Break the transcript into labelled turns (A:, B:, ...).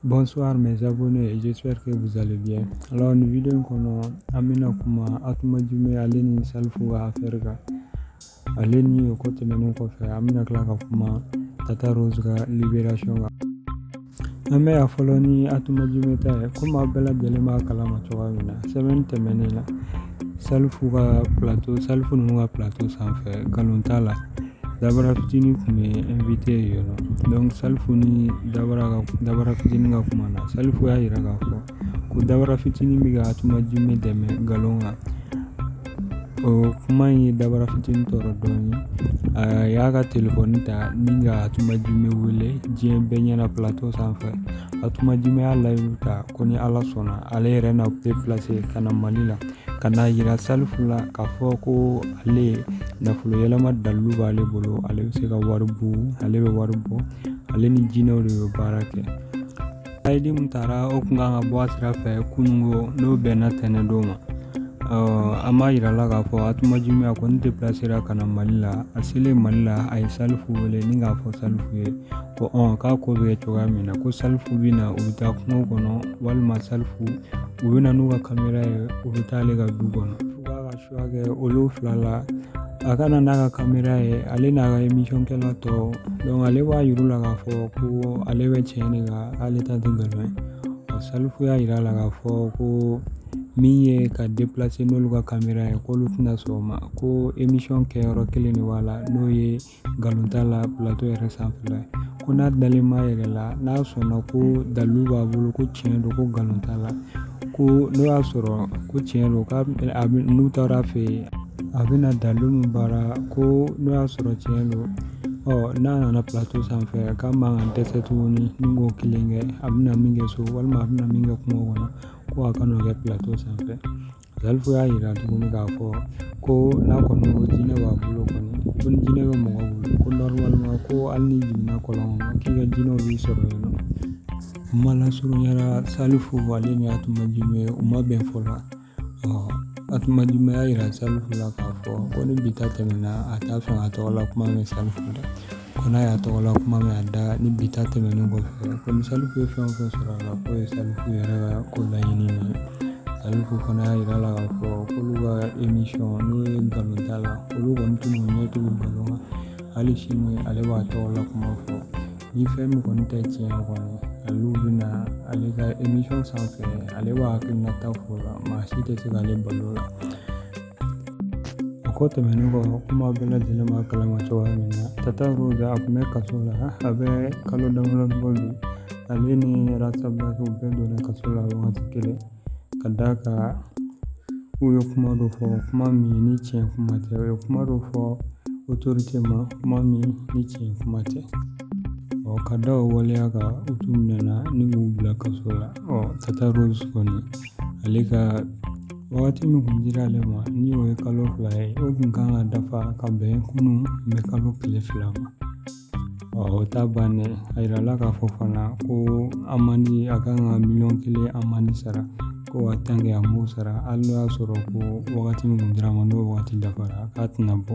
A: Bonsoir mes abonnés et j'espère que vous allez bien. Alors ni video in kɔnɔ an bɛna kuma Atuma Jume ale ni Salifu ka affaire kan. Ale ni o ko tɛmɛnen kɔfɛ an bɛna tila ka kuma Tata Rose ka libération kan. An bɛ a fɔlɔ ni Atuma Jume ta ye komi aw bɛɛ lajɛlen b'a kalama cogoya min na semaine tɛmɛnen la Salifu ka platɔ Salifu ninnu ka platɔ sanfɛ nkalon t'a la Dabara fitinin tun bɛ invité yen nɔ donc Salifu ni Dabara fitinin ka kuma na Salifu y'a jira k'a fɔ ko Dabara fitinin bɛ ka Atuma Jume dɛmɛ nkalon kan o kuma in ye Dabara fitinin tɔɔrɔ dɔɔnin a y'a ka telefɔni ta ni ka Atuma Jume wele diɲɛ bɛɛ ɲɛna platɔ sanfɛ Atuma Jume y'a layidu ta ko ni ala sɔnna ale yɛrɛ na deplase ka na mali la ka n'a jira salifu la k'a fɔ ko ale nafolo yɛlɛma dalu b'ale bolo ale bɛ se ka wari buun ale bɛ wari bɔ ale ni jinɛw de bɛ baara kɛ layidu min taara o tun kan ka bɔ a sira fɛ kununko n'o bɛnna tɛnɛn don ma an b'a jira la k'a fɔ Atuma Jume a kɔni deplasera ka na mali la a selen mali la a ye salifu wele ni k'a fɔ salifu ye ko k'a ko bɛ kɛ cogoya min na ko salifu bɛ na u bɛ taa kungo kɔnɔ walima salifu u bɛ na n'u ka kamera ye u bɛ taa ale ka du kɔnɔ f'a ka choix kɛ olu fila la a ka na n'a ka kamera ye ale n'a ka emisɔnkɛla tɔ ale b'a yir'u la k'a fɔ ko ale bɛ tiɲɛ de kan ale ta tɛ nkalon ye salifu y'a yira a la k'a fɔ ko min ye ka deplase n'olu ka kamera ye k'olu tɛna sɔn o ma ko emisɔn kɛyɔrɔ kelen de b'a la n'o ye Nkalon t'a la platɔ yɛrɛ sanfɛla ye ko n'a dalen b'a yɛrɛ la n'a sɔnna ko dalu b'a bolo ko tiɲɛ don ko nkalon t'a la ko n'o y'a sɔrɔ ko tiɲɛ don k'a n'u taara fɛ yen a bɛna dalu min baara ko n'o y'a sɔrɔ tiɲɛ don ɔ n'a nana platɔ sanfɛ k'a man kan dɛsɛ tuguni ni k'o kelen kɛ a bɛna min kɛ so walima a bɛna min kɛ kungo kɔnɔ ko a ka n'o kɛ platɔ sanfɛ Salifu y'a jira tuguni k'a fɔ ko n'a kɔni ko jinɛ b'a bolo kɔni ko ni jinɛ bɛ mɔgɔ bolo ko nɔrɔmaliman ko hali n'i jiginna kɔlɔn kɔnɔ k'i ka jinɛw b'i sɔrɔ yen nɔ kuma lasurunyara Salifu ale ni Atuma Jume u ma bɛn fɔ la Atuma Jume y'a jira Salifu la k'a fɔ ko ni bi ta tɛmɛna a t'a fɛ k'a tɔgɔ la kuma mɛn Salifu da ko n'a y'a tɔgɔ la kuma mɛn a da ni bi ta tɛmɛnen kɔfɛ ko ni Salifu ye fɛn o fɛn sɔrɔ a la k'o ye Salifu yɛrɛ ka ko laɲini ye Salifu fana y'a yira la k'a fɔ k'olu ka emisɔn n'o ye nkalon t'a la olu kɔni t'u ɲɛ tugu nkalon kan hali sini ale b'a tɔgɔ la kuma fɔ ni fɛn min kɔni tɛ tiɲɛ kɔni ale bɛna ale ka emisɔn sanfɛ ale b'a hakilinata fɔ o la maa si tɛ se k'ale bal'o la O ko tɛmɛnen kɔ komi an bɛɛ lajɛlen b'a kalama cogoya min na Tata Rose a kun bɛ kaso la a bɛ kalo damadɔ bɔ bi ale ni Ras Bath u bɛɛ donna kaso la wagati kelen ka d'a kan u ye kuma dɔ fɔ kuma min ni tiɲɛ kuma tɛ u ye kuma dɔ fɔ autorité ma kuma min ni tiɲɛ kuma tɛ ɔ ka da o waleya kan u tun minɛna ni k'u bila kaso la ɔ Tata Rose kɔni ale ka Wagati min kun dira ale ma ni o ye kalo fila ye o kun kan ka dafa ka bɛn kunun mɛkalo tile fila ma o ta bannen a yirala k'a fɔ fana ko amende a kan ka miliyɔn kelen amende sara ko en tant que a m'o sara hali n'o y'a sɔrɔ ko wagati min kun dira a ma n'o wagati dafara k'a tɛna bɔ